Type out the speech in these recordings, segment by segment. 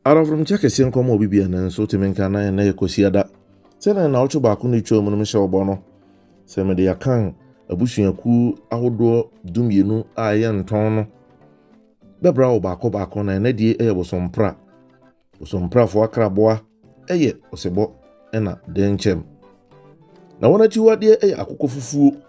Adɔnforomkyɛ kɛseɛ nkɔ ma obi bia nanso wote me nka na ɛnɛ yɛ Kwasiada. Sɛnea nnawɔtwe baako no retwam no mehyɛ wo bɔ no sɛ mede akan abusuakuo ahodoɔ dumienu a ɛyɛ ntɔn no bɛbra wo baako baako na ɛnɛ die ɛyɛ bosompra. Bosomprafoɔ akraboa ɛyɛ ɔsebɔ ɛna dɛnkyɛm. Na wɔn akyiwadeɛ ɛyɛ akokɔfufuo.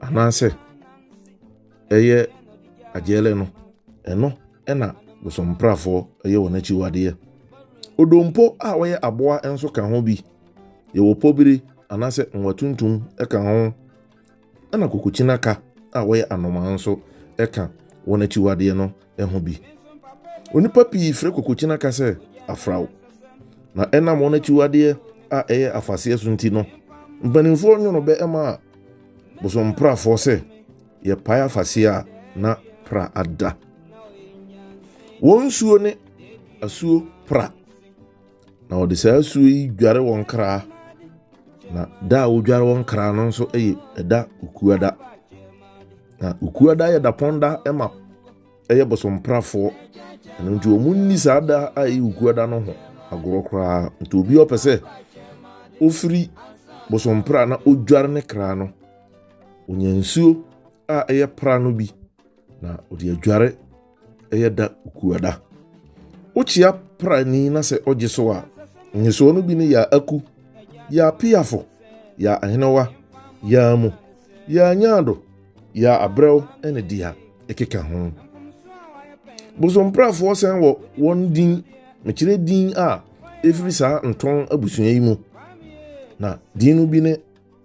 anaasɛ ɛyɛ agyɛɛlɛ no ɛno ɛna bosomprafoɔ ɛyɛ wɔn akyiwadeɛ odompo a wɔyɛ aboa nso ka ho bi yɛwɔ pɔbiri anaasɛ nwa tuntum ɛka ho ɛna kokokyinaka a wɔyɛ anomaa nso ɛka wɔn akyiwadeɛ no ho bi. Onipa pii frɛ kokokyina ka sɛ afraw, na ɛnam wɔn akyiwadeɛ a ɛyɛ afaseɛ so nti no, mpanimfoɔ nwono bɛ ma bosomprafoɔ sɛ yɛpae afaseɛ a na pra ada. Wɔn nsuo ne asuo pra. Na wɔde saa asuo yi dware wɔn kra, na da a wɔdware wɔn kra no nso yɛ ɛda okuada. Na okuada yɛ dapɔn da ma ɛyɛ bosomprafoɔ. Ɛno nti wɔn nni saa da a ɛyɛ okuada no ho agorɔ koraa. Nti obi ɔpɛ sɛ ofiri bosompra na odware ne kra no, onya nsuo a ɛyɛ pra no bi. Na ɔde adware yɛ da kuada. Wokyia prani na sɛ ɔgye so a, nyesoɔ no bi ne yɛ aku, yɛ apeafo, yɛ ahenewa, yɛ amu, yɛ anyaado, yɛ abrɛw ne deɛ ɛkeka ho. Bosomprafoɔ sɛn wɔ wɔn din, mekyerɛ din a ɛfiri saa ntɔn abusua yi mu. Na din no bi ne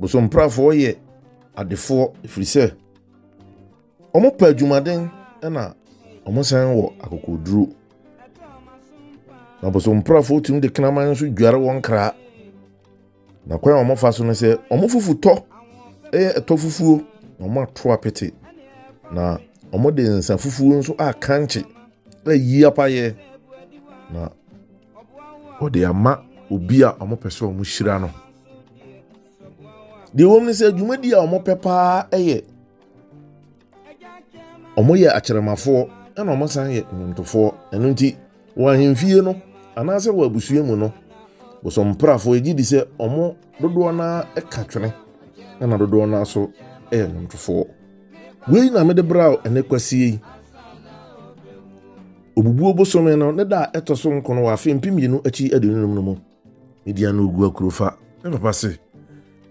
Bosomprafoɔ yɛ adefoɔ ɛfiri sɛ wɔpɛ adwumaden na wɔsan wɔ akokoɔduro. Na bosomprafoɔ tumi de kraman nso dware wɔn kra. Na kwan a wɔfa so no sɛ wɔn fufu tɔ ɛyɛ ɛtɔ fufuo na wɔn ato apete na wɔde nsa fufuo nso akankye ɛyi apayɛ na wɔde ama obi a wɔpɛ sɛ wɔhyira no deɛ wɔm no sɛ dwumadi a wɔpɛ paa yɛ wɔyɛ akyerɛmafoɔ ɛna wɔsan yɛ nnwomtofoɔ ɛno nti wɔ ahemfie no anaasɛ wɔ abusua mu no bosomprafoɔ yɛgye di sɛ wɔn dodoɔ no ara ka twene ɛna dodoɔ no ara so yɛ nnwomtofoɔ wei na mede bra ɛnɛ kwasie yi Obubuo bosome no ne da a ɛtɔ so nkron wɔ afe mpem mmienu akyi aduonu num no mu, Midian no gu akuro fa. Me papa se,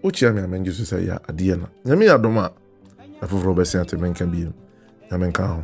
Wokyea me a mengye so sɛ ɛyɛ adeɛ na Nyame adom a, afoforɔ bɛse ate me nka bio. Nyame nka ho.